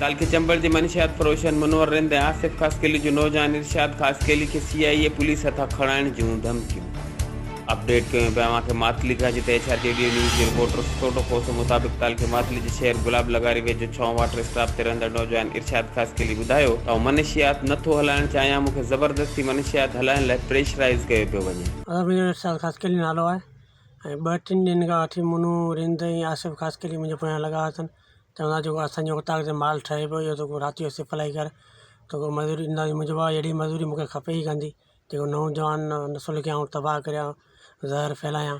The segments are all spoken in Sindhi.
ڪالهه کي چمبڙ جي منشيات فروشن منور رند ۽ آصف خاصخيلي جو نوجوان ارشاد خاصخيلي کي سي آء اي پوليس هٿان کڻائڻ جون ڌمڪيون اپڊيٽ ڪيون پيا اوهان کي ماتلي کان جتي ايڇ آر ريڊيو نيوز جي رپورٽر سٽوٽو کوسو مطابق ڪالهه کي ماتلي جي شهر گلاب لغاري ويجهو ڇونه واٽر اسٽاپ تي رهندڙ نوجوان ارشاد خاصخيلي ٻڌايو ته آئون منشيات نه ٿو هلائڻ چاهيان مون کي زبردستي منشيات هلائڻ لاء پريشرائيز ڪيو پيو وڃي اسد منهنجو ارشاد خاصخيلي نالو آهي ۽ ٻه ٽن ڏينهن کان وٺي منو، رند ۽ آصف خاصخيلي منهنجي پويان لڳا اٿن چون ٿا جيڪو اسان جي اوطاق تي مال ٺهي پيو اهو تون رات جو سپلائي ڪر توکي مزوري ڏينداسين منهنجو چوڻ هو اهڙي مزوري مون کي کپي ئي ڪانه ٿي جيڪو نوجوان نسل کي آئون تباهه ڪريان زهر ڦهلايان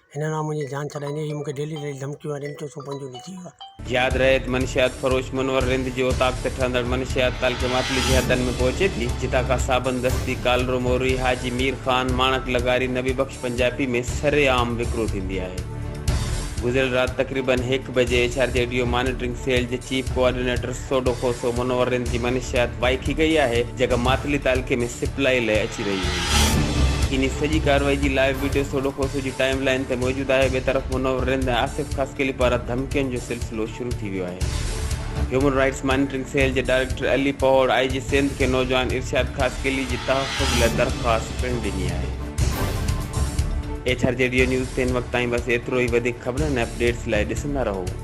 هن نا منهنجي جان ڇڏائيندين هي مون کي ڊيلي ڊيلي ڌمڪيون ۽ رمتيون سون پنجون ڏي ٿي ويو. ياد رهي ته منشيات فروش منور رند جي اوطاق تي ٺهندڙ منشيات ڪال کي ماتلي جي حدن ۾ پهچي ٿي جتان کان صابن دستي ڪالرو موري حاجي مير خان ماڻڪ لغاري نبي بخش پنجابي ۾ سر عام وڪرو ٿيندي آهي گذريل رات تقريبن هڪ بجي ايڇ آر جي ايڊيو مانيٽرنگ سيل جي چيف ڪوآرڊينيٽر سوڍو کوسو منورن جي منشيات وائي ٿي گئي آهي جيڪا ماتلي تعلقي ۾ سپلائي لئي اچي رهي هئي. انهي سڄي ڪارروائي جي لائيو وڊيو سوڍو کوسو جي ٽائيم لائين تي موجود آهي. ٻئي طرف منور رند ۽ آصف خاصخيلي پاران ڌمڪين جو سلسلو شروع ٿي ويو آهي. هيومن رائيٽس مانيٽرنگ سيل جي director Ali Pahore I G Sindh کي نوجوان ارشاد خاصخيلي جي تحفظ لئي درخواست پڻ ڏني آهي. ايڇ آر جي ريو نيوز تي هن وقت تائين بس ايترو ئي وڌيڪ خبرن ۽ اپ ڊيٽس لئي ڏسندا رهو.